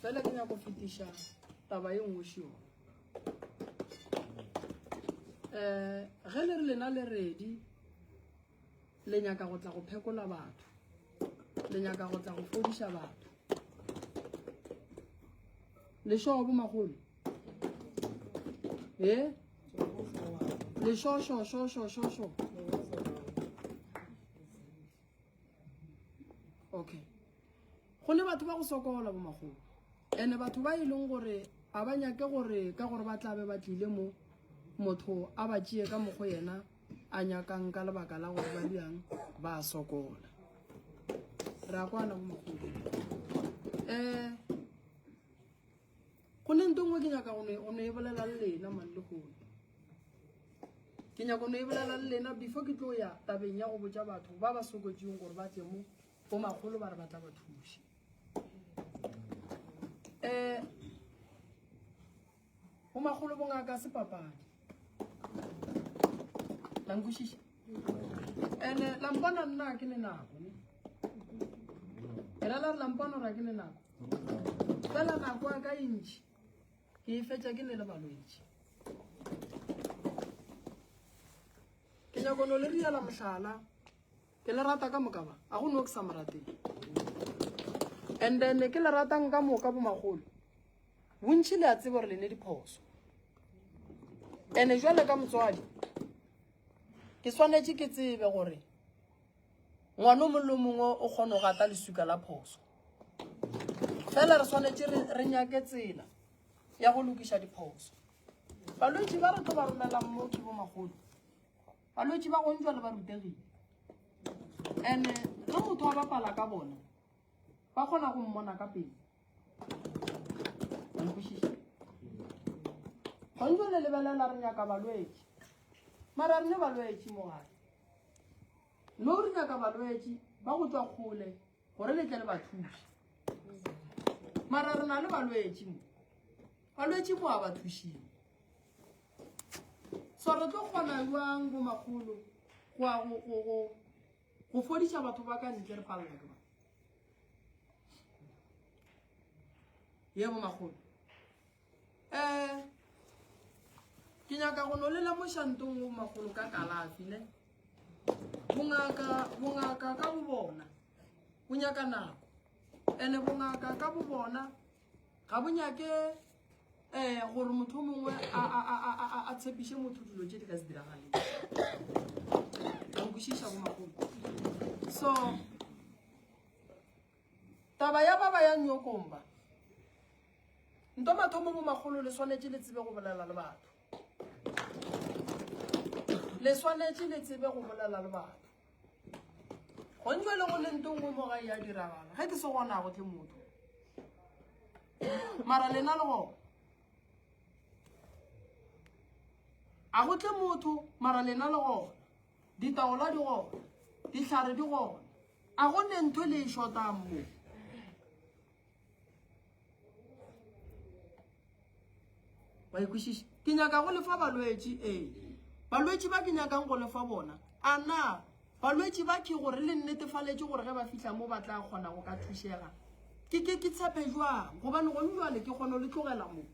fela ke nyako fetiša taba e nngwe šio um ge le re lena le redi le nyaka go tla go phekola batho le nyaka go tla go fodiša batho lešoo bomagolo e lešošošošošošo okay go ne batho ba go sokola bo magolo ene batho ba e leng gore a ba nyake gore ka gore ba tlabe ba tlile mo motho a ba tšee ka mokgo yena a nyakang ka lebaka la gore ba diang ba sokola re a kwana bo magolo um eh, go ne nto nngwe ke nyaka go ne e bolela le lena mang le gone ke nyaka go ne e bolela le lena before ke tlo ya tabeng ya go botsa batho ba ba sokotseng gore ba tle mo Bo magolo ba re ba tla ba thuša. Eh, bo magolo bongaka se papadi. La nkwešiša? Ene eh, la mpona nna ke le nako. Era la re la mpona gore ke le nako. Fela nako ya ka e ntšhi. Ke e fetša ke le le balwetši. Ke nyako no le riela mohlala. Ke le rata ka moka ba. A go no ke sa mo rateng. And then ke le ratang ka moka bo magolo. Bontši le a tseba gore le ne diphoso. Ene jwale ka motswadi ke swanetše ke tsebe gore ngwana mongwe le mongwe o kgona go gata lesuka la phoso. Fela re swanetše re nyake tsela ya go lokiša diphoso. Balwetši ba re tlo ba romelang mo ke bo magolo. balwetši ba gontšwa le ba rutegile and-e ge motho a bapala ka bona ba kgona go mmona ka pele nkwešiša gontšwa le lebelela re nyaka balwetši mara re ne balwetši mogare no re nyaka balwetši ba go tswa kgole gore le tle le ba thuše mara re na le balwetši mo balwetši mo a ba thušile so re tlo kgona jwang bo magolo go ya go go go go fodiša batho ba ka ntle re palela ke ba ye bo magolo um ke nyaka go no le lemošantong o magolo ka kalafi ne bongaka ka bo bona bo nyaka nako and-e bongaka ka bo bona ga bo nyake um gore motho o mongwe a tshepiše motho dilo tse di ka se diragaleng a nkwešiša bo magolo so Taba ya baba ya nyokomba. Nto mathomo bo magolo le swanetše le tsebe go bolela le batho. Le swanetše le tsebe go bolela le batho. Go ntšwe le go le nto nngwe mo ga ya diragala. Ge ke se gona go tle motho. Mara lena le go. A go tle motho mara lena le go. Ditaola di go. Dihlare di go. A go ne ntho le e shotang mo? Wa ikwešiša? Ke nyaka go lefa balwetši, ee. Balwetši ba ke nyakang go lefa bona. A na balwetši ba ke gore le nnetefaletše gore ge ba fihla mo ba tla kgona go ka thušega? Ke ke ke tshepe jwang? Gobane gone jwale ke kgona le tlogela mo.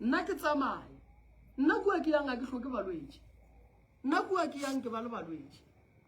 Nna ke tsamaya. Nna kua ke yang a ke hloke balwetši. Nna kua ke yang ke ba le balwetši.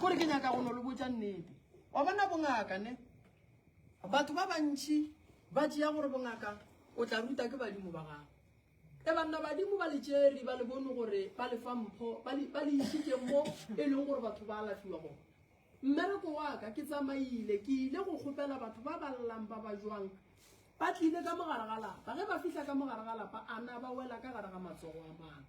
kore ke nyaka go no le botsa nnete wa bona bongaka ne batho ba bantšhi ba tšea gore bongaka o tla ruta ke badimo ba gago e banna badimo ba letseri ba le bone gore ba le fa mpho ba le isitse mo e leng gore batho ba alafiwa gona mmereko wa ka ke tsamaile ke ile go kgopela batho ba ba llang ba ba jwang ba tlile ka mogare ga lapa ge ba fitlha ka mogare ga lapa a na ba wela ka gare ga matsogo a mang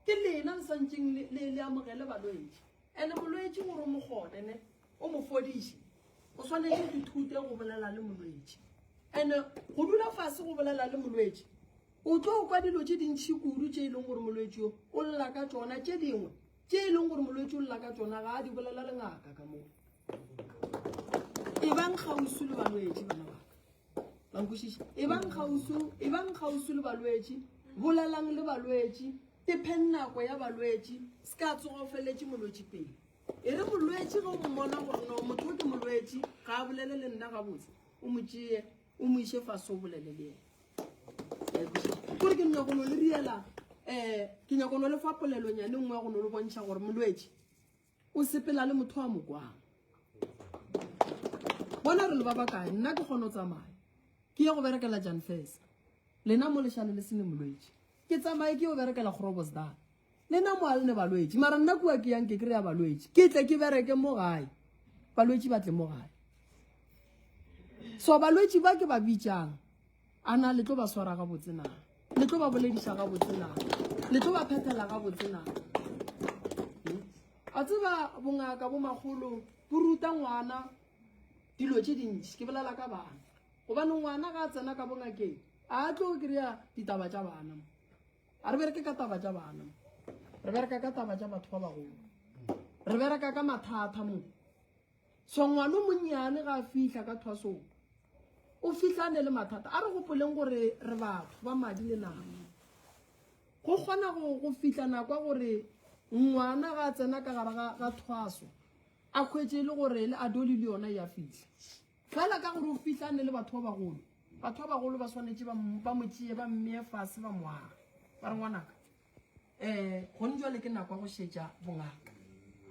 Ke lena le santšeng le, le, le amogele balwetši. Ene molwetši gore o mo kgone, ne, o mo fodiše, o swanetše go thute go bolela le molwetši. Ene go dula fase go bolela le molwetši, o tlo kwa dilo tše dintšhi kudu tše e leng gore molwetši yo o lla ka tšona, tše dingwe tše e leng gore molwetši o lla ka tšona ga a di bolela le ngaka ka moo. E bang kgauswi le balwetši bana baka. La nkwešiša? Ebang kgauswi, ebang kgauswi le balwetši, bolelang le balwetši, tepheng nako ya balwetši, se ka tsoga o feleletše molwetši pele. E re molwetši ge o mmona gore no motho o ke molwetši, ga a bolele le nna gabotse, o mo tšee, o mo iše fase o bolele le yena. Gore ke nyako no le riela, um ke nyako no le fa polelonyane nngwe ya go no le bontšha gore molwetši, O sepela le motho wa mokwang. Bona re le ba bakae, nna ke kgona go tsamaya. Ke ye go berekela Jan Fesa. Lena mo leshale le sene molwetši. Ke tsamaye ke yo berekela Grobosdal. Lena mo alne balwetši, mara nna kua ke yang ke kry ya balwetši. Ke tle ke bereke mo gae. Balwetši ba tle mo gae. So balwetši ba ke ba bitšang. A na le tlo ba swara ga botse na? Le tlo ba bolediša ga botse na? Le tlo ba phethela ga botse na? A tseba bongaka bo magolo bo ruta ngwana dilo tše dintši ke bolela ka bana gobane ngwana ga a tsena ka bongakeng a tlo kry-a ditaba tša bana a re bereke ka taba tša bana re bereka ka taba tša batho ba bagolo re bereka ka mathata mo So ngwana o monnyane ga a fihla ka thwasong o fihlane le mathata a re gopoleng gore re batho ba madi le nama go kgona go fihla nakwa gore ngwana ga a tsena ka gara ga thwaso a kgwetse e le gore le adoli le yona ya fihla fela ka gore o fihlane le batho ba bagolo batho ba bagolo ba swanetse ba mo tšee ba mmeye fase ba moaga ba re ngwanaka um gone jale ke nako ya go šetša bongaka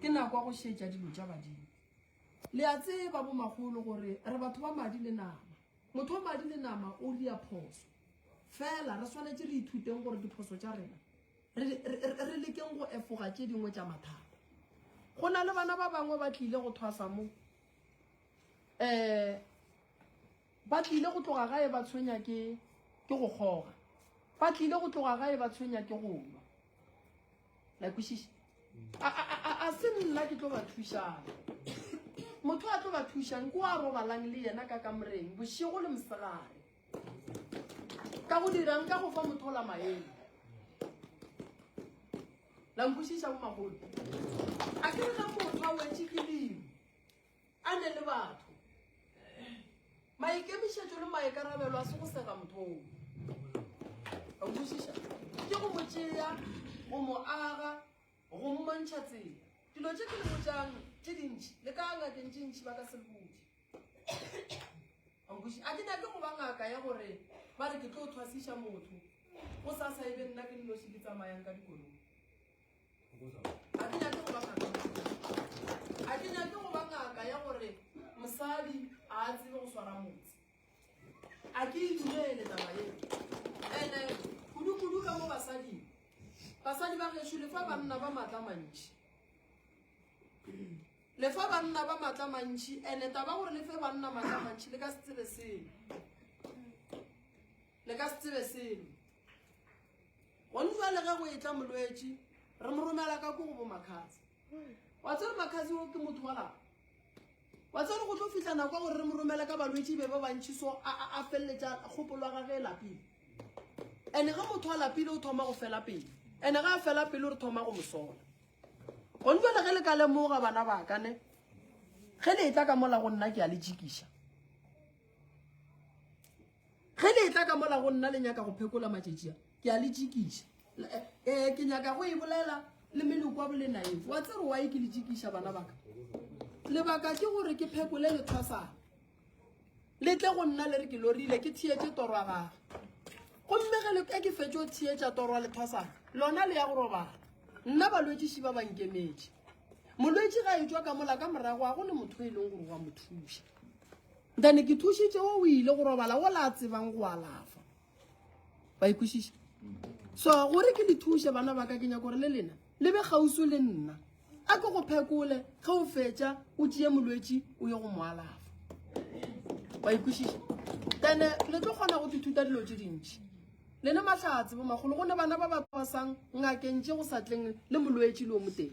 ke nako ya go šetša dilo tša badimo le a tseba bomagolo gore re batho ba madi le nama motho wa madi le nama o ria phoso fela re swanetse re ithuteng gore diphoso tša rena re lekeng go efoga tše dingwe tša mathata go na le bana ba bangwe ba tlile go thwasa mo um Ba tlile go tloga gae ba tshwenya ke ke go kgoga. Ba tlile go tloga gae ba tshwenya ke go nwa. La kwešiša? A, a, a, a se nna ke tlo ba thušang. Motho a tlo ba thušang ke wa robalang le yena ka kamoreng bošego le mosegare. Ka go dirang ka go fa motho la maele. La nkwešiša bo magolo. A ke re ga motho a wetše ke dimo. A ne le batho. Maikemišetšo le maikarabelo a se go sega motho o. A utlwisiša? Ke go mo tšea, go mo aga, go mmontšha tsela. Dilo tše ke le botšang tše dintši, le ka ngakeng tše ntši ba ka se le botše. A utlwisiša? A ke nyake go ba ngaka ya gore ba re ke tlo thwasiša motho, go sa sa e be nna ke nnoši ke tsamayang ka dikolong. ga ke nyake go ba ngaka ga ke nyake go ba ngaka ya gore mosadi a a tsebe go swara motse a ke e dumele taba eo ande kudu-kudu ka mo basading basadi ba geso le fa banna ba maatla mantšhi le fa banna ba maatla mantšhi ande taba gore le fe banna maatla mantšhi le ka se tsebe seo Le ka se tsebe selo. Gone jwale ge go etla molwetši, re mo romela ka ko go bo Makhatsi. Wa tsere Makhatsi o ke motho wa lapa. Wa tsere go tlo fihla nako gore re mo romele ka balwetši be ba bantši so a a a felletša kgopolo ga ge lapile. Ene ge motho a lapile o thoma go fela pele. Ene ga a fela pele re thoma go mo sola. Gone jwale ge le ka lemoga bana ba ka ne ge le etla ka mola go nna ke a le jikiša. ge le etla ka mola go nna le nyaka go phekola matšetšia ke a le tšikiša um eh, eh, ke nyaka go e bolela le meloko wa bolenaeng wa tsere wa e ke le tšikiša bana baka lebaka ke gore ke phekole lethasana le tle go nna le re ke lorile ke theetse torwa gage gomme ge le ka ke fetse o theetša torwa lethasana lona le ya go robala nna balwetšiši ba bankemetše molwetši ga e tswa ka mola ka morago a go ne motho e leng gore wa mo thuša Then ke thušitše o ile go robala o la tsebang go alafa. Ba ikwešiša. So gore ke le thuše bana ba ka ke nyako gore le lena le be gausu le nna. A ke go phekole ge o fetša o tšee molwetši o ye go mo alafa. Ba ikwešiša. Then le tlo kgona go ithuta dilo tše dintši. Le ne mahlatse bo magolo go ne bana ba ba kwasang ngakeng tše go sa tleng le molwetši le o moteng.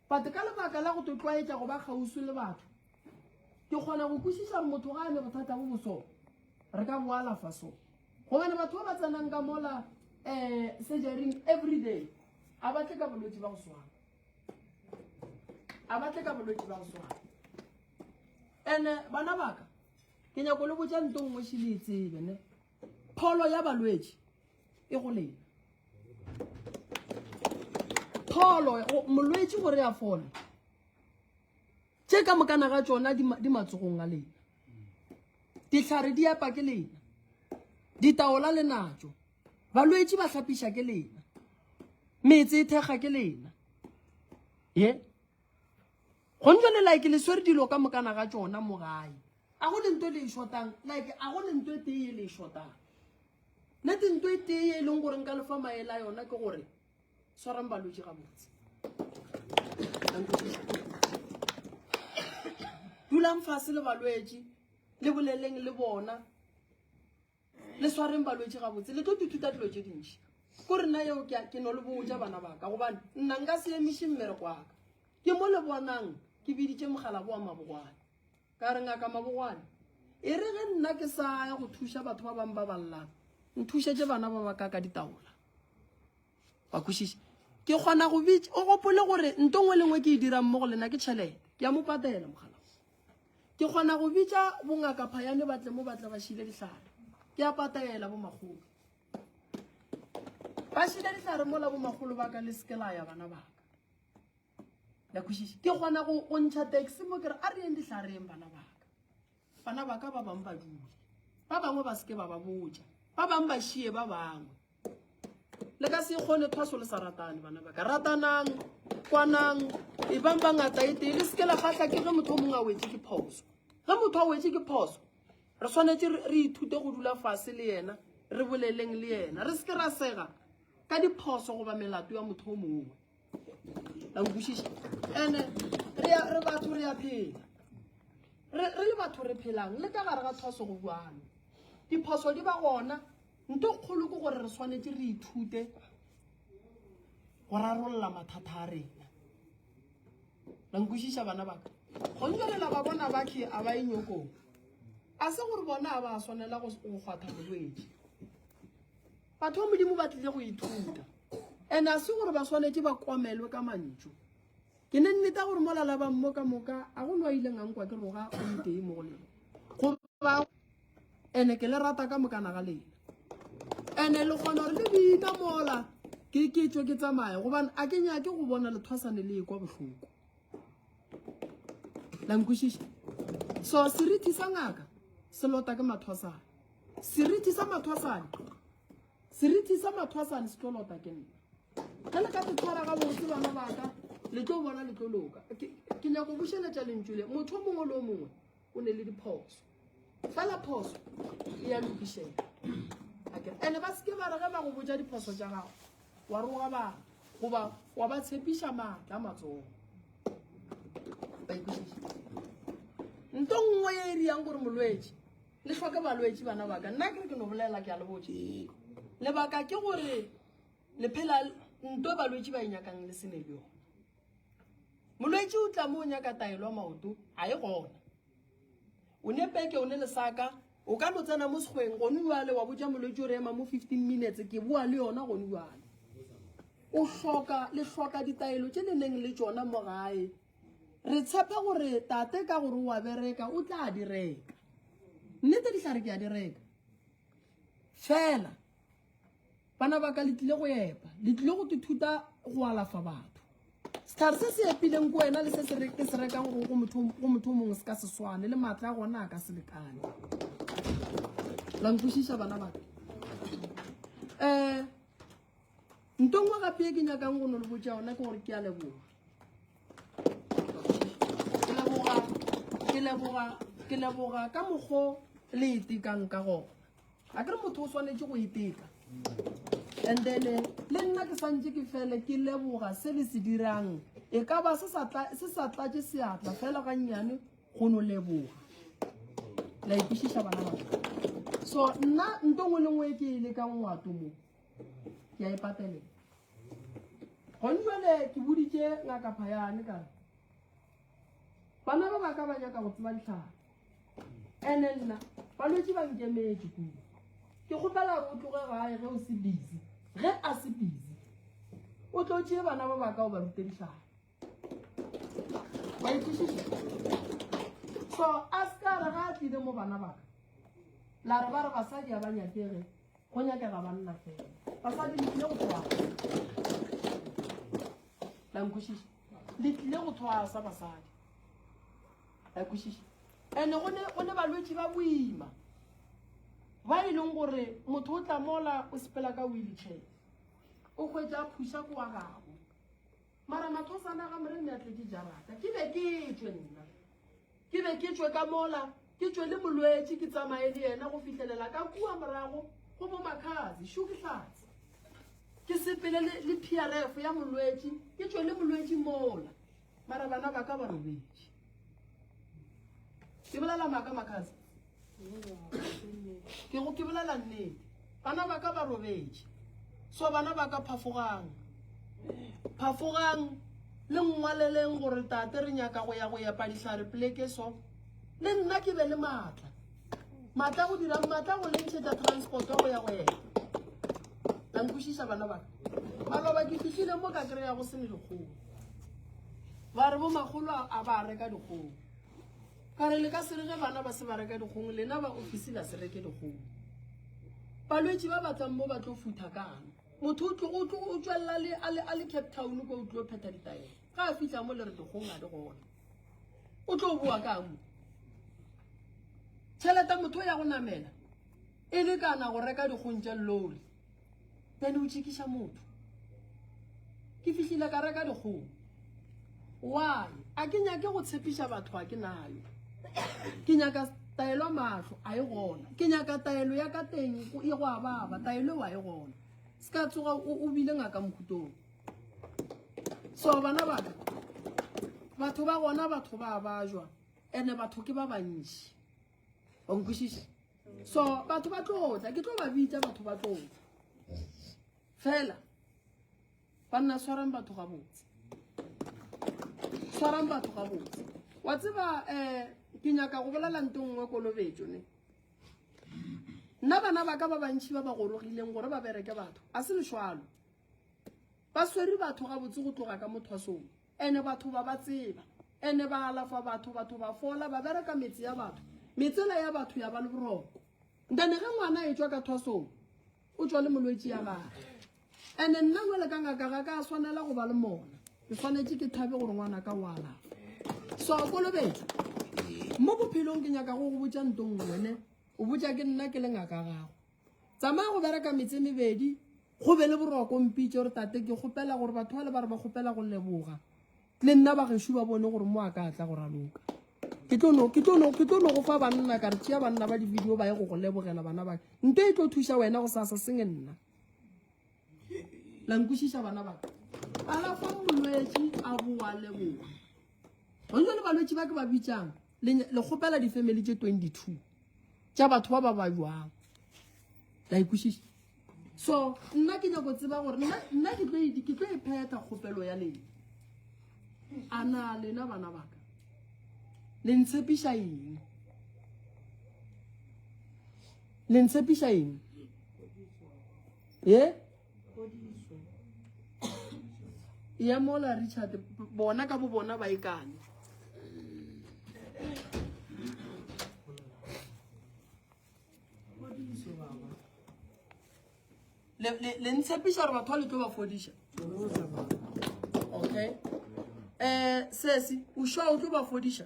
But ka lebaka la go to tlwaetša go ba kgauswi le batho, ke kgona go kwešiša motho ga a le bothata bo boso, re ka bo alafa so. Gobane batho ba ba tsenang ka mola um surgery every day a ba tle ka bolwetši ba go swana, a ba tle ka bolwetši ba go swana. And eh, bana baka ke nyako le botša nto nngwe šile e tsebe ne pholo ya balwetši e go lena pholo molwetši gore a fole tše ka mokana ga tsona di matsogong a lena dihlare di epa ke lena ditaola le natso balwetši ba hlapiša ke lena metse e thekga ke lena ye yeah. go ntse le like le swere dilo ka mokana ga tsona mo gae a go le nto le e shotang like a go le nto e tee le e shotang nne te nto e tee e leng gore nka lefa maele a yona ke gore swarang balwetse ga botse dulang fase le balwetse le boleleng le bona le swareng balwetši gabotse le tlo tututa dilo tše dintši ko rena yeo ke no le botja bana baka gobane nna nka se emiše mmereko waka ke mo le bonang ke biditše mogala boa mabogwane ka re ngaka mabogwane e re ge nna ke sa ya go thuša batho ba bangwe ba ballang nthušetse bana ba baka ka ditaola ba kwešiše ke kgona go bitse o gopole gore nto ngwe lengwe ke e dirang mo go lena ke tšhelete ke ya mo patela mogala Ke kgona go bitša bongaka phayane ba tle mo ba tle ba šile dihlare. Ke a pataela bomakgolo. Ba šile dihlare mo la bomakgolo ba ka le seke la ya bana ba ka. La kwešiša. Ke kgona go go ntšha taxi mo ke re a re yeng dihlareng bana ba ka. Bana ba ka ba bangwe ba dule. Ba bangwe ba seke ba ba botša. Ba bangwe ba šie ba bangwe. le ka se kgone phaso le sa ratane bana ba ka ratanang kwanang e bang ba ngata e tee le seke la kgatlha ke ge motho o mongwe a wetse ke phoso ge motho a wetse ke phoso re tshwanetse re ithute go dula fase le yena re boleleng le yena re seke ra sega ka diphoso goba melato ya motho o mongwe la nkwešiša ande re re batho re a phela re re le batho re phelang le ka gare ga thoso go bjalo diphoso di ba gona nto kgolo ke gore re swanetse re ithute go rarolola mathata a rena la nkwešiša bana baka gontswelela ba bona bathe a ba e nyokong a se gore bona a ba swanela go kgwatha molwetši batho ba modimo ba tlile go ithuta and a se gore ba swanetse ba komelwe ka mantšu ke ne nneta gore mo lalabang mo ka moka a go lwa ileng a nkwa ke roga o itee mo go lena goba ene ke le rata ka mokana ga lena ene le kgona gore le bina mola ke ke tswe ke tsamaye gobane a ke nyake go bona lethwasane le e kwa bohloko lankwešiša so serithi sa ngaka se lota ke mathwasane Seriti sa mathwasane. Seriti sa mathwasane se tlo lota ke nna. Ge le ka se tshwara ga botse bana ba ka, le tlo bona le tlo loka. Ke nyako bušeletša lentšu le. Motho mongwe le mongwe o ne le diphoso. Fela phoso e ya lokišela. Ene ba seke ba re ge ba go botša diphoso tša gago. Wa roga ba goba wa ba tshepiša maatla matsogo. Ba ikwešiša. Nto nngwe e e riyang gore molwetši le hloke balwetši bana baka nna ke re ke no bolela ke a le botse ee. lebaka ke gore le phela nto balwetši ba e nyakang le sene le yone molwetši o tla mo o nyaka taelo maoto a e gona o ne peke o ne lesaka o ka no tsena mo segweng gone jale wa botsa molwetši o re ema mo fifteen minutes ke boa le yona gone jale o hloka le hloka ditaelo tše le neng le tšona mo gae re tshepa gore tate ka gore wa bereka o tla di reka nnete dihlare ke a di reka fela bana ba ka le tlile go epa le tlile go ithuta go alafa batho setlhare se se epileng ko wena le se se ke se rekang go go motho o mongwe se ka se swane le maatla a gona a ka se lekane la nkwešiša bana baka um eh, Nto nngwe gape e ke nyakang go no le botša yona ke gore ke a leboga. Ke leboga ke leboga ke leboga ka mokgo le itekang ka gona. A ke re motho o swanetše go iteka. And then eh, le nna ke santše ke fele ke leboga se le se dirang. E ka ba se sa tla se sa tlatše seatla fela ga nnyane go no leboga. La ikwešiša bana ba. So nna nto nngwe le nngwe e ke e lekang ngwato moo ke a e pateleng gone jale ke boditše ngaka phayane ka re bana ba ba ka ba nyaka go tseba ditlhare ene nna balwetse ba nkemetse kudu ke kgopela gore o tloge gae ge o se busy ge a se busy o tlo tšee bana ba ba ka o ba rute ditlhare ba ikwešiša so a se ka re ga a tlile mo bana baka la re ba re basadi ga ba nyakege go nyakega banna fela basadi le tlile go thwasa la nkwešiša le tlile go thwasa basadi la kwešiša and-e go ne balwetši ba boima ba e leng gore motho o tla mola o sepela ka wheelchair o kgwetsa a phusa ko wa gago Mara mathosana ga morenne a tle di jarata ke be ke tšwe nna ke be ke tšwe ka mola ke tšwe le molwetši ke tsamaye le yena go fihlelela ka kua morago go bo makhazi šo ke hlatse ke sepele le prf ya molwetši ke tšwe le molwetši mola mara bana ba ka ba robetše ke bolela maaka makase ke go ke bolela nnete bana ba ka ba robetše so bana ba ka phafogang phafogang le ngwaleleng gore tate re nyaka go ya go epa dihlare pleke so le nna ke be le maatla Matla go dira matla go lentšhetša transport go ya go ena. La nkwešiša bana ba ka. Maloba ke fihlile mo ka kry-a go se ne dikgomo. Ba re bo magolo a ba reka dikgomo. Ka re le ka se re ge bana ba se ba reka dikgomo lena ba ofisi la se reke dikgomo. Balwetši ba ba tlang mo ba tlo futha kang. Motho o tlo o tlo o tswella le a le a le Cape Town ko o tlo phetha ditaelo. Ga a fihla mo le re dikgomo a di gona. o tlo boa ka mo tšhelete motho ya go namela e le kana go reka dikgong tša lori then o tšhikiša motho ke fihlile ka reka dikgong why a ke nyake go tshepiša batho a ke nayo ke nyaka taelo ya mahlo a e gona ke nyaka taelo ya ka teng e go ababa taelo wa e gona se ka tsoga o bile ngaka mokhutong so bana baka batho ba gona batho ba ba jwa ene batho ke ba bantši wa nkwešiše so batho ba tlotla ke tlo ba bitsa batho ba tlotla fela ba nna swarang batho ga botse tshwarang batho ga botse wa tseba um ke nyaka go bolela nto nngwe kolobetso ne nna bana ba ka ba bantšhi ba ba gorogileng gore ba bereke batho a se lešwalo ba swere batho gabotse go tloga ka mothwasong ene batho ba ba tseba ene ba alafa batho batho ba fola ba bereka metse ya batho metsela ya batho ya ba le boroko ntane ge ngwana e tswa ka thwasong o tswa le molwetse ya gage ene nna jale ka ngaka ga ka swanela go ba le mona ke tshwanetse ke thabe gore ngwana ka o alafa so kolobetsa mo bophelong ke nyaka go go botsa ntong wene o botša ke nna ke le ngaka gago tsamaya go bereka metse mebedi go be le boroko mpitse gore tate ke kgopela gore batho ba le ba re ba kgopela go leboga le nna bagešu ba bone gore mo a ka tla go raloka ke tlo go fa banna ka re tšea banna ba di-video ba ye go go lebogela bana ba nto e tlo thuša wena go sasa senge nna la nkwešiša bana ba alafa molwetši a boa leboa gonne le balwetši ba ke ba bitsang le kgopela di-family tše 22 tša batho ba ba ba jwang la ikwešiša so nna ke nyako tseba gore nna ke tlo e phetha kgopelo ya lena a na lena bana baka le ntshepiša eng le ntshepiša eng ye ya mola richard bona ka bo bona ba ikane le ntshepiša gore batho ba le tlo ba fodiša okay um sesi o sure o tlo ba fodiša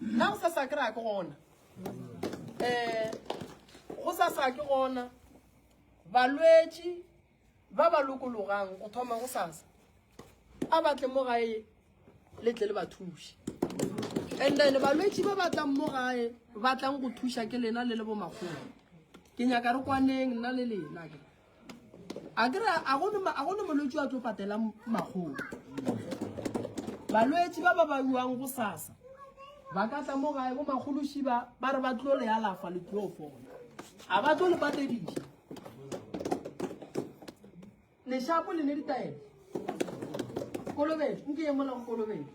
Nna go sa sa kry-a ke gona. Um go sa sa ke gona balwetši ba ba lokologang go thoma go sasa a batle mo gae le tle le ba thuše and then balwetši ba batlang mo gae ba tlang go thuša ke lena le le bomakgolo ke nyaka re kwaneng nna le lena ke a kry-a a gone molwetsi a tlo patela makgolo balwetsi ba ba ba yuang go sasa ba ka tla mo gae bo magolosiba ba re ba tlo le alafa le tlo fona a ba tlo le patedisa leshapo le ne ditaelo kolobetso nke ye mola go kolobetso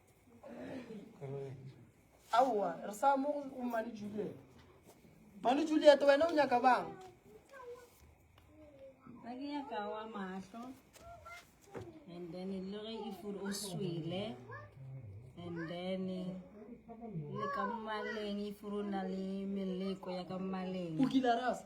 aowa re sa mo go mane juliet mane juliet wena o nyaka bang a ke nyaka wa mahlo and then e le ge e fure o swele and then le ka mmaleng e fure o na le meleko ya ka mmaleng o kile rasa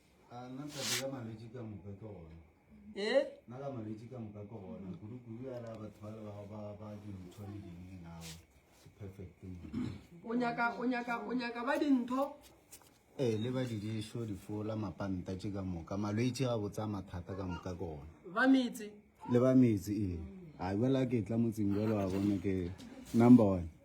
o nyaka o nyaka o nyaka ba dintho ee le ba didišo difola mapanta tše ka moka malwetse ga botsa mathata ka moka ke gona ba metse le ba metse ee a jala ke tla motseng jalo wa bone ke number one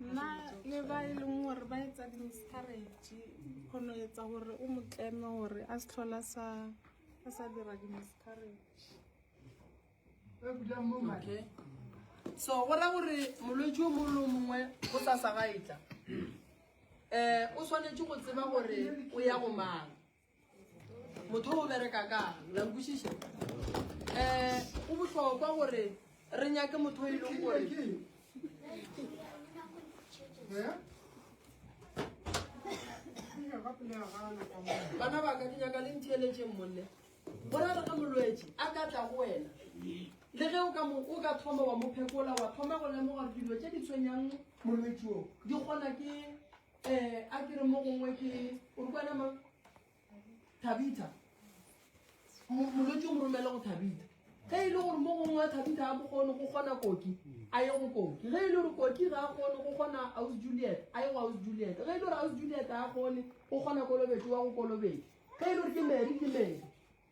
nna le ba e leng gore ba etsa di-miscarrage kgono etsa gore o mo tleme gore a se tlhola sa a sa dira di-miscarrage okay. so go ra gore molwetse o mongwe le o mongwe go sa sa ga etla um o tshwanetse go tseba gore o ya go mang motho o bereka kang la nkwešiša um eh, go bohlokwa gore re nyake motho e leng gore bana ba ka ke nyaka le ntheeletseng monne bona re ka molwetse a ka tla go wena le ge o ka mo o ka thoma wa mo phekola wa thoma go lemoga dilo tse di tshwenyang molwetsi o di kgona ke Eh, a ke re mo gongwe ke o re kwana mang thabitha molwetse o mo romele go thabitha ge e le gore mo gongwe wa thabitha a bokgone go kgona koki a ye go koki ge e le gore koki ga a kgone go kgona aus juliet a ye go aus juliet ge e le gore aus juliet a kgone go kgona kolobetso wa go kolobetso ge e le gore ke mary ke mary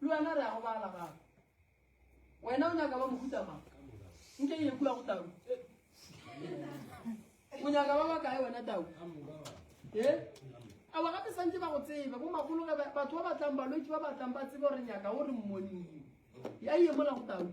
Le wena re a go bala gape. Wena o nyaka ba mohuta mang? Nke e kula go tau. O nyaka ba ba kae wena tau? Eh? Awa gape santse ba go tsebe bo magolo ge batho ba batlang balwetsi ba batlang ba tsebe gore nyaka o re mmoniwe. Ya iye mola go tau.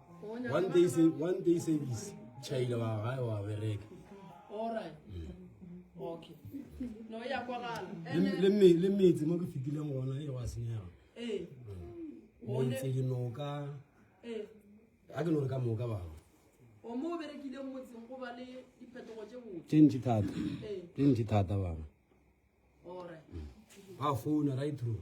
one day se one day service chaile wa gae wa bereka le metse mo ke fetileng gona e wa senyega metse dinoka a ke no re ka moka bangwe tše ntši thata tše ntši thata bangwe ba founa right through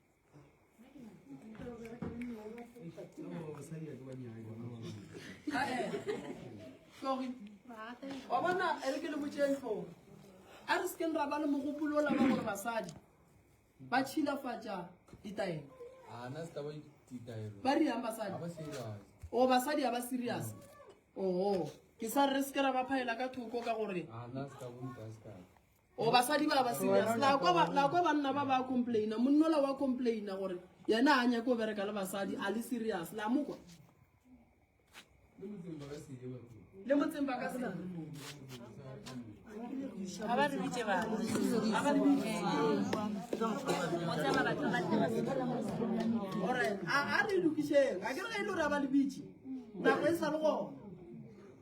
wa bona e re ke le botseng tlhogo a re sekeng ra ba le mogopolo o laba gore basadi ba tšhilafatša ditaelo ba riang basadi o basadi ga ba serious oo ke sa re re seke ra ba phaela ka thoko ka gore o basadi ba ba serious la kwa ba la kwa banna ba ba complaina monnola wa complaina gore yena a nyake o bereka le basadi a le serious la mokwa le motseng ba ka se ga ba re bitse ba ga ba re bitse gore a a re lokišeng a ke re ga e le gore a ba le bitse nako e sa le gona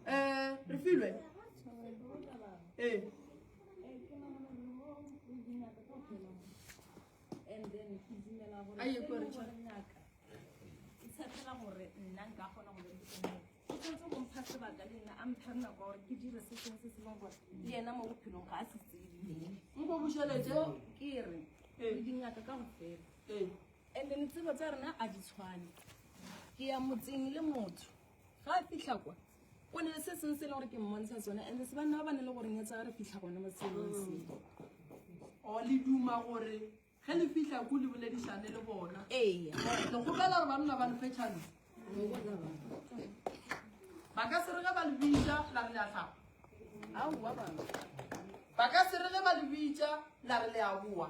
um re filwe Hey. a ye ko re itshepela gore nna nka kgona go berekisa o tshwanetse go mpha sebaka le nna a mpha nako gore ke dire se sengwe se se leng gore le ena mo bophelong ga a se tsebe nko bošelete ke re le dingaka ka go fela and then tsebo tsa rena a di tshwane ke ya motseng le motho ga a fitlha kwa go ne le se sengwe se e le gore ke mmontsha sone and se banna ba ba ne le gore nyetsa ga re fitlha gone mo tshelong seo o le duma gore ge le fitlha ko le boledišane le bona ee le gopela gore banna ba lefe tšhano ba ka se re ge ba le bitša la re le a tlhapa aowa bana ba ka se re ge ba le bitša la re le a boa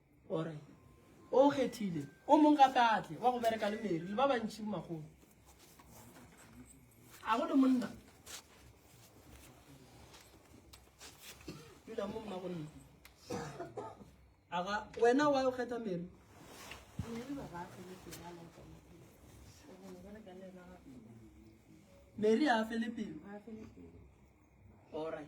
O re, O kgethile o mong gape a tle wa go bereka le Mary le ba bantši makgolo. A go le monna? Dula mo mma gonne. Aga wena wa o kgetha Mary? Mary a fele pelo. All right.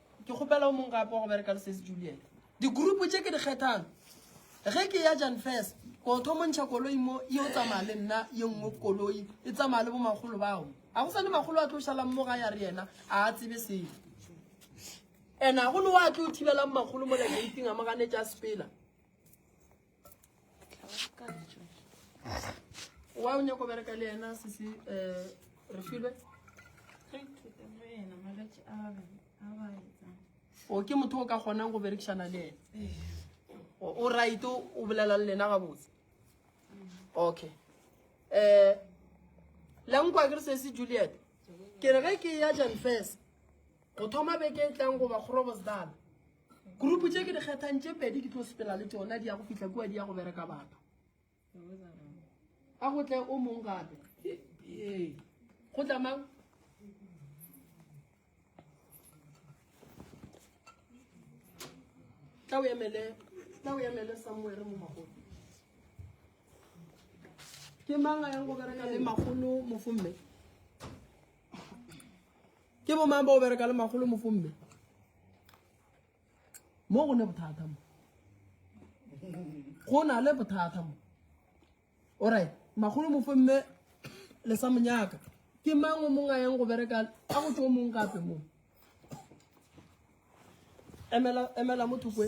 Ke kgopela o mong gape wa go bereka le Sesi Juliet. Digurupu tše ke di kgethang ge ke ya Jan First, ko o thomo ntšha koloi mo ye o tsamaya le nna ye nngwe koloi e tsamaya le bomakgolo bao. Ga go sa le makgolo a tlo šalang mo ga ya re yena a a tsebe selo. Ena go le wa tlo thibelang makgolo mo la geiting a mo ganetša sepela. wa o nyako bereka le yena sese um re filwe o ke motho o ka kgonang go berekišana le ene o right o bolela le lena gabotse okay um lankwa ke re sese juliet ke re ge ke ya jan first go thoma beke e tlang goba kgorobosdala Group tše ke di kgethang tše pedi ke tlo sepela le tšona di ya go fihla kua di ya go bereka batho. A go tle o mong gape. Ee. Go tla mang? Tla o emele, tla o emele somewhere mo magolo. Ke mang a yang go bereka le magolo mo fomme? ke bo mang ba o bereka le magolo mofomme mo go ne bothata mo go na le bothata mo orit magolo mofomme le sa monyaka ke mang o mongwe a yang go bereka a go tse o mongwe gape mo emela mo thokwe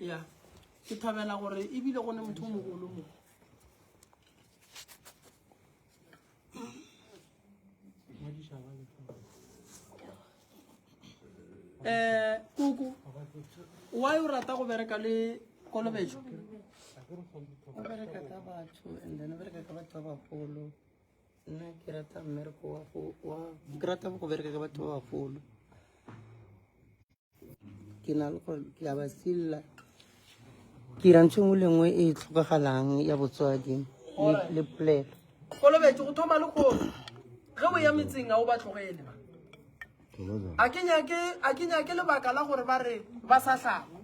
ya ke thabela gore ebile go ne motho o mogolo mo um koko wa o rata go bereka le kolobetso o bereka ka batho and then o bereka ka batho ba bagolo nna ke rata mmereko wa go wa ke rata go bereka ka batho ba bagolo ke na le gore ke a ba silla ke ira ntho engwe le nngwe e e tlhokagalang ya botswadi le polelo kolobetse go thoma le gore ge o ya metseng ga o ba tlogele ba a ke nyake lebaka la gore ba re ba sa tlhapa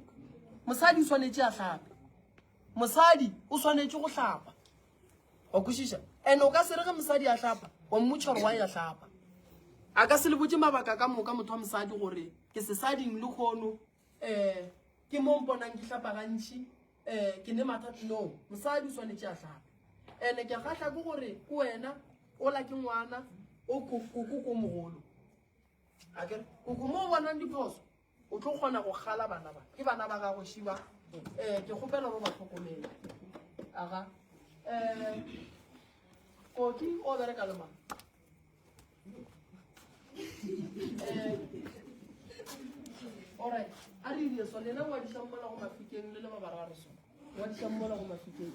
mosadi o swanetse a tlhape mosadi o swanetse go tlhapa wa kwešiša and o ka se re ge mosadi a hlapa wa mmotšha gore wa ya hlapa a ka se le botse mabaka ka moka motho wa mosadi gore ke sesading le kgono um eh, ke mo mponang ke hlapa gantšhi um eh, ke ne matha no mosadi o swanetse a hlapa and-e ke kgatlha ke gore ke wena o la ke ngwana o koko ko mogolo akere koko mo o bonang diphoso O tlo kgona go kgala bana ba. Ke bana ba gago šiba. Eh ke kgopela go ba tlhokomela. Aga. Eh Koki o bereka le mang? Eh All right. A re dire so lena wa di tsammola go mafikeng le le ba bararo so. Wa di tsammola go mafikeng.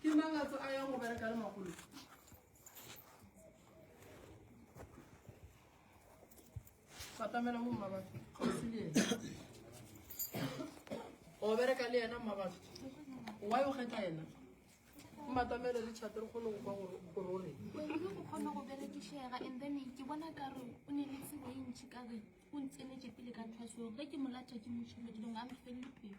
ke mang a a yang go bereka le magolo fatamela mo mmabatho kgausi le ena o bereka le ena mmabatho wa yo kgetha ena mmatamele le chate re kgone go kwa gore o reng go kgone go berekisega and then ke bona kare o ne le tsebo e ntšhi kare o ntsenetse pele ka tlhwaso ge ke molata ke mošhelo dilong a mfelele pelo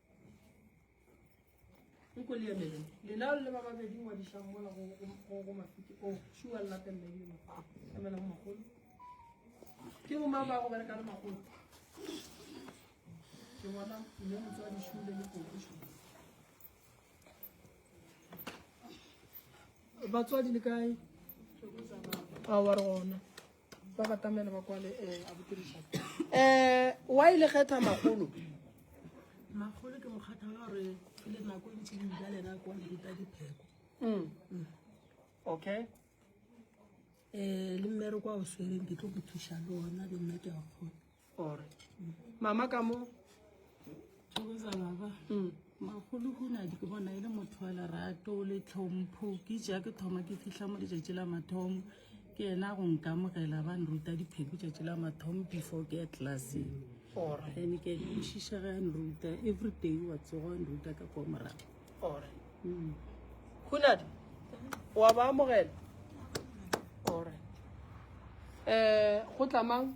ke bo mang ba go bereka le magolo ke bona mme motse wa dishule le kokiso batswadi le kae a wa re gona ba batamele ba kwale um abuti richard um wa e le kgetha magolo magolo ke mokgatha wa gore ke le nako e ntse dibja lena ko dita dipheko mm. mm. okay um le mmere kwa o swereng ke tlo go thuša le ona le nna ke a kgona or mama ka mo mm. magolo hunadi ke bona e le motho wa lerato le tlhompho ke ja ke thoma ke fitlha mo letšatši la mathomo ke ena go nkamogela ba nruta dipheko tšatši la mathomo before ke ya classeng and ke kwešiša ge a nruta every day wa tsogo a nruta ka kwa morago hunadi mm. wa ba amogela um eh, go tlamang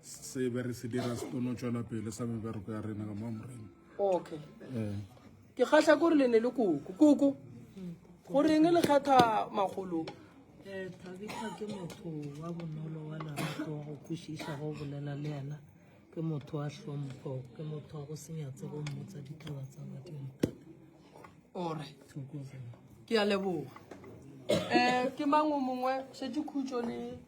se be re se dira se kono tšwela pele sa mebereko ya rena ka mo morena okay eh. ke kgahla kore le ne le koko koko goreng le kgetha magolo eh, tabitha ke motho wa bonolo wa larato wa go kwešiša go bolela le yena ke motho wa hlompho ke motho wa go senyatse go mmotsa ditaba tsa badimo thata alright ke a leboga um ke mang o mongwe šetse khutso le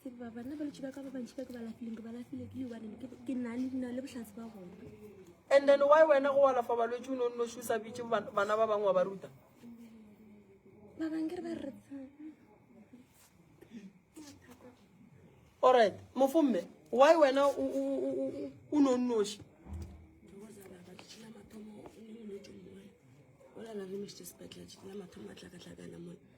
tseba bana ba letši ba ka ba bantši ba ke ba lafileng ke ba lafile ke lebaneng ke nna le dina le bohlatsi ba gona and then why wena go alafa balwetse o ne o nno šusa bitše bana ba bangwe wa ba ruta ba bangwe ke re ba re alright mofo mme why wena o ne o nnoši o lala re mešitse sepetlele mathomo a tlakatlakana mone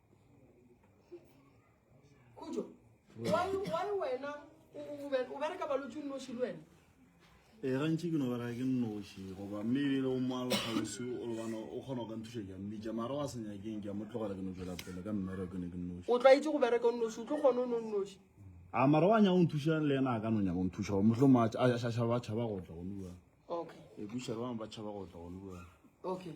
khutso why wena o bereka balotse o nnoši le wena ee gantši ke no bereka ke nnoši goba mme ebile o moalo gausi o lebana o kgona go ka nthuša ke a mmitša mara wa senyakeng ke a mo tlogela ke no tswela pele ka mmere ke ne ke nnoši o tlwaetse go bereka o nnoši o tlo kgone o no nnoši a mara wa nyako nthuša le ena a ka no nyako nthuša go motlho ma a šašaba tšhaba go tla go nua okay e buša le bangwe ba tšhaba go tla go nua okay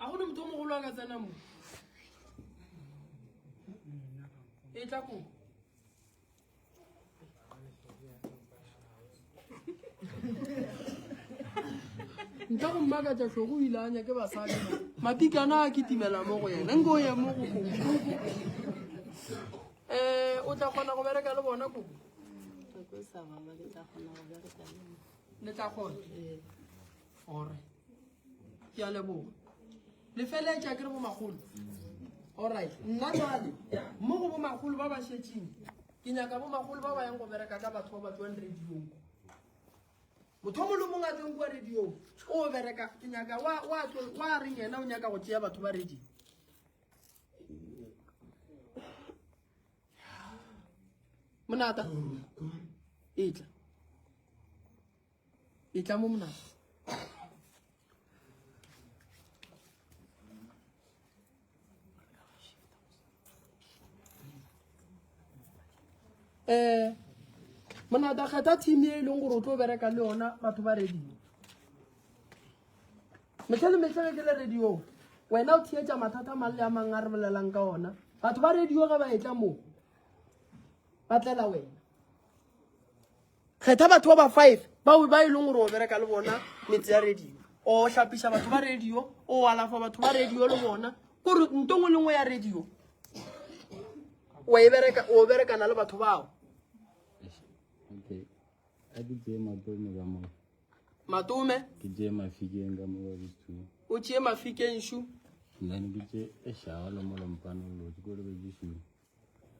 a go ne motho o mogolo a ka tsena mo e tla ko ntle go mmakatsa tlhogo o ile a nyake basadi matikana a ke timela mo go yena nko ye mo go koo um o tla kgona go bereka le bona koo le tla kgona Ore. Ke a leboga. Le feletša ke re bo magolo. All right. Nna jwale mo go bo magolo ba ba šetšeng. Ke nyaka bo magolo ba ba yang go bereka ka batho ba ba tswang radio. Motho mo lomong a tsweng kwa radio. O bereka ke nyaka wa wa wa reng yena o nyaka go tšea batho ba radio. Monata. Itla. e tla mo monana um monata kgetha team e e leng gore o tlo bereka le yona batho ba radio metlhe le metlhe ge ke le radio wena o theetša mathata mang le a mang a re bolelang ka ona batho ba radio ge ba etla moo ba tlela wena Kgetha batho ba ba five bao ba e leng gore o bereka le bona metse ya radio o hlapiša batho ba radio o alafa batho ba radio le bona kore nto ngwe le ngwe ya radio e o berekana le batho bao matome o tšee mafikeng shu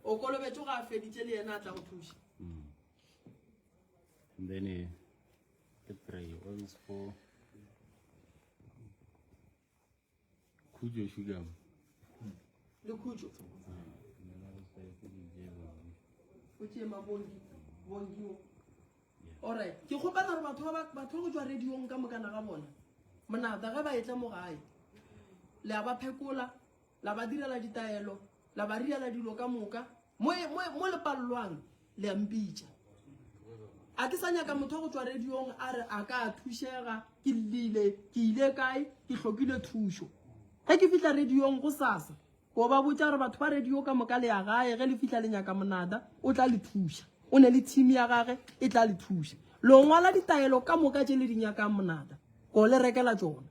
o kolobetše ga a feditše le yena a tla go thuša mm. then eh, ke pray always for khutšo sugar le khutšo o tšee mabongi bongio allright ke kgopela gore batho ba go tswa radiong ka mokana ga bona monata ge ba e tla mo gae le a ba phekola La ba direla ditaelo, la ba riela dilo ka moka. Mo, mo, mo le palelwang, le a mpitša. A ke sa nyaka motho go tswa radiong a re a ka thušega, ke lile, ke ile kae, ke hlokile thušo. Ge ke fihla radiong go sasa, ko ba botša gore batho ba radio ka moka le ya gae ge le fihla le nyaka monada o tla le thuša o ne le team ya gage e tla le thuša lo ngwala ditaelo ka moka tše le di nyakang monada ko le rekela tsona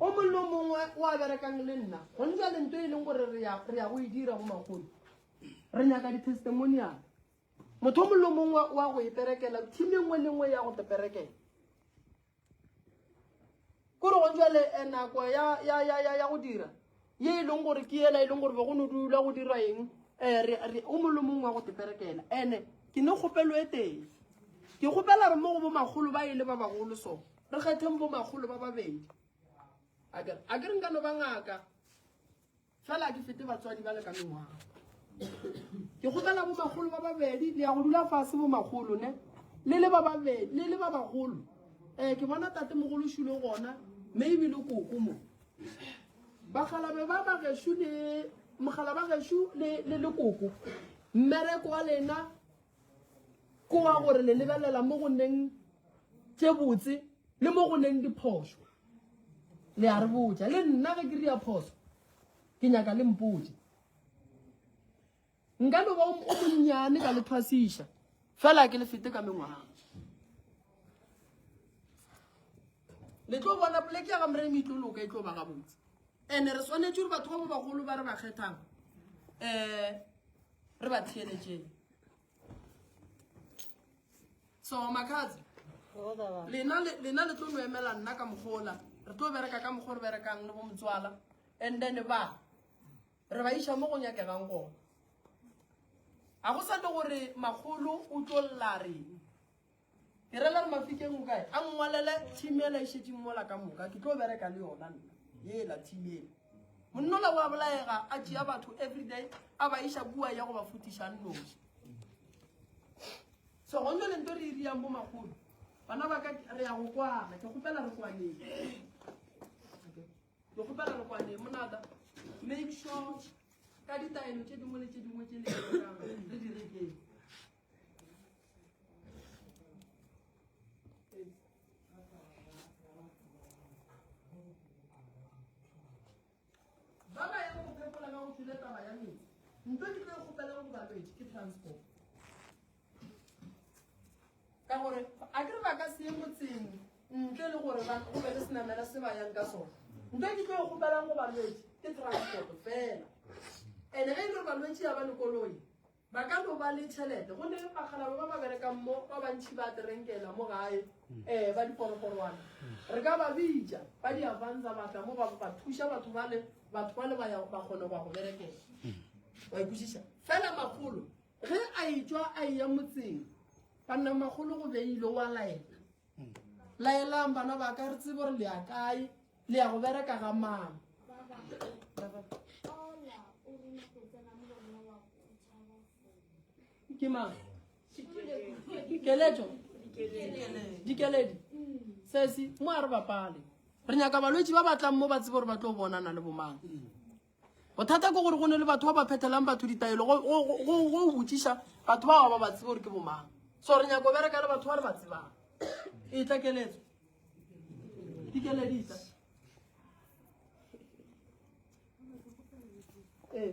o mongwe le o mongwe o a berekang le nna go ntsa le nto e leng gore re ya go e dira go magolo re nyaka di-testimonial motho o mongwe le o mongwe wa go e berekela team e nngwe le nngwe ya go te berekela kore gone jale eh, nako ya, ya, ya, ya, ya go dira ye e leng gore ke ela e leng gore be go no dula go dirwa eng um o mollo mongwe wa go teperekela ande ke ne kgopelo e teng ke kgopela re mo go bomakgolo ba e le ba bagolo so re kgetheng bomakgolo ba babedi a kere nka no ba ngaka Fela a di fete batswadi ba le ka mengwaga. Ke kgopela bo magolo ba babedi le ya go dula fase bo magolo ne le le ba babedi le le ba bagolo eh ke bona tate mogolo shulo gona mme ebile koko mo bagalabe ba ba geshu le mogala ba geshu le le koko mmereko wa lena ko wa gore le lebelela mo go neng tše botse le mo go neng diphoso le a re botja le nna ge ke ria phoso ke nyaka le mpotse nka no ba o monnyane ka le thwasiša fela ke le fete ka mengwaga le tlo bona poleke ya ga moremi e tlo loka e tlo ba gabotse ande re swanetse gore batho ba ba bagolo ba re ba kgethang um re ba theeletseng so makhatsi lena le tlo no emela nna ka mogola re tlo bereka ka mogo re berekang le bo motswala and then ba re ba iša mo go nyakegang gona ga go sa le gore magolo o tlo lla reng ke rela re mafikeng o kae a ngwalele team ela e šetšeng mola ka moka ke tlo bereka le yona nna yela team ela monnola wa bolaega a tšea batho everyday a ba iša kua ya go ba futišang noši so gonjo le nto re e riang bomakgolo bana ba ka re ya go kwana ke kgopela re kwaneng ke kgopela re kwaneng monata make sure ka ditaelo tše dingwe le tše dingwe tše le re di rekeng ba ba yang go phepola ba go tshwile taba ya metsi nto ke tlo kgopeleng go balwetse ke transport ka gore a kere ba ka se ye motseng ntle le gore go be le senamela se ba yang ka sone nto ke tlo kgopelang go balwetse ke transport fela ande ge e le gore balwetse ya ba lekoloi Ba ka no ba le tšhelete go ne bakgalaba ba ba berekang mo ba bantšhi ba terenkela mo gae um ba diporogorwana re ka ba bitša ba di avanza batla mo ba ba thuša batho ba le batho ba le ba ya ba kgone go ya go berekela wa ikwešiša fela magolo ge a etswa a eya motseng banna magolo go beile wa laela laelang bana ba ka re tsebo re le ya kae le ya go bereka ga mang ke mang keletso dikeledi sesi mo a re bapale re nyaka balwetse ba batlang mo ba tsebe gore ba tlo bonana le bomang bothata ke gore go ne le batho ba ba phethelang batho ditaelo go go- go- go- go botšiša batho bao ba ba tsebe gore ke bomang so re nyako bereka le batho ba re ba tsebang e tla keletso dikeleditsa ee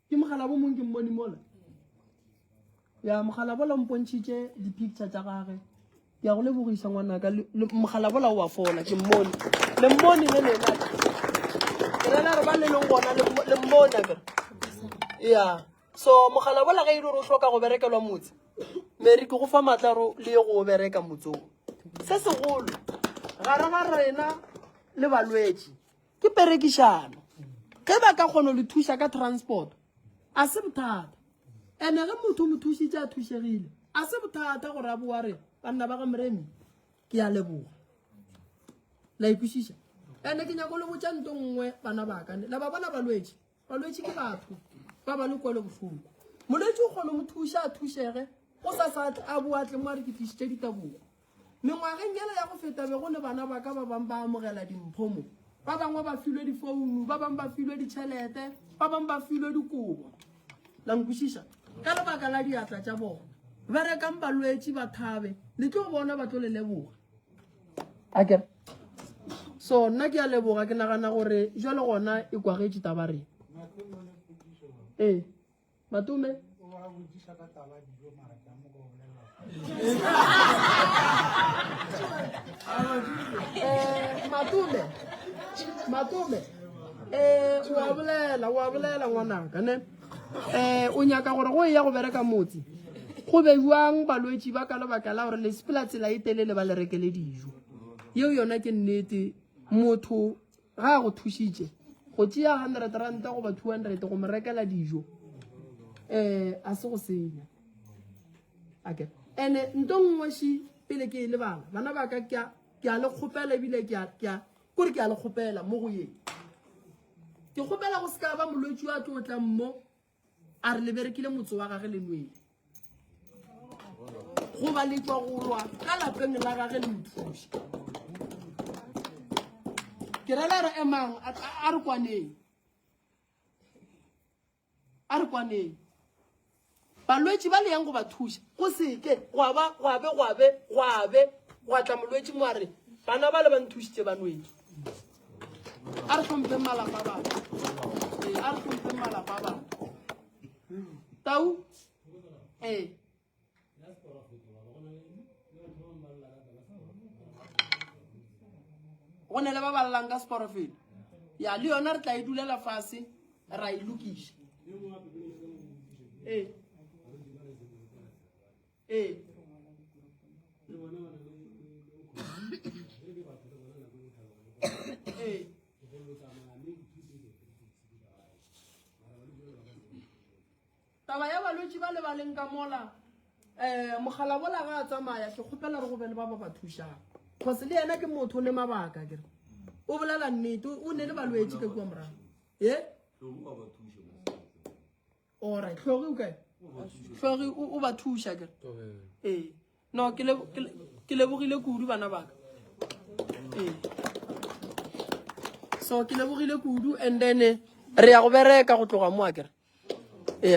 Ke mogalabo mong ke mmone mola. Ya mogalabo la mpontšhitše di-picture tša gage. Ke a go lebogisa ngwanaka mogalabo la wa fola ke mmone. Le mmone le lena. Ke rena re ba le leng gona le mmone ka. Ya. So mogalabo la ga ile re hloka go berekelwa motse. Mary ke go fa matla ro le ye go bereka motsong. Se segolo. Gara ga rena le balwetši. ke perekišano ge ba ka kgono le thuša ka transport a se bothata ene ge motho mo thušitše a thušegile a se bothata gore a boa re banna ba ga moremi ke ya leboga la ikwešiša ene ke nyako le botša nto nngwe bana bakane la ba bona balwetše Balwetši ke batho ba ba le kwelo bohloko. Molwetši o kgona mo thuša a thušege go sa sa a boatle mo a re ke tlišitše ditabogo. Mengwageng yela ya go feta be go le bana ba ka ba bang ba amogela dimpho mo. Ba bangwe ba filwe difounu, ba bang ba filwe ditšhelete, ba bang ba filwe dikobo. La nkwešiša? Ka lebaka la diatla tša bona. Berekang balwetši ba thabe, le tlo bona ba tlo le leboga. a ke so nna ke a leboga ke nagana gore jo le gona e kwagetše taba re ee matume eh, matume matume um wa bolela wa bolela ngwanaka ne um o nyaka gore go eya go bereka motse go bejwang balwetši ba ka lebaka la gore le sepela tsela e telele ba le rekele dijo yeo yona ke nnete motho ga a go thušitše go tšea hundred ranta goba two hundred go mo rekela dijo um a se go senya ake ande nto nngweši pele ke e lebala bana ba ka ke a le kgopela ebile kore ke a le kgopela mo go yeng ke kgopela go se ka ba molwetši wa tlo tlang mo a re leberekile motse wa gage le nwele goba le tswa go lwa ka lapeng la gage le mothuši ke rela re emang a re kwaneng a re kwaneng balwetši ba le yang go ba thuša go seke goabe goabe goabe goabe gwa tla molwetši mo a re bana ba le ba nthušitše ba nweng a re tlhomphe malapa a batho ee a re tlhomphe malapa a batho tau ee go ne le ba balelang ka seporofeto ya le yona re tla e dulela fase ra e lokiša ee ee Taba ya balwetši ba le ba leng ka mola um mogalabola ga a tsamaya ke kgopela re go be le ba ba ba thušang cause le yena ke motho o ne mabaka kere o bolela nnete o ne le balwetši ka kua morago e ora tlhogi o kae tlhogi o ba thuša kere ee no ke lebogile kudu bana baka ee so ke lebogile kudu and then re ya go bereka go tloga mo a kere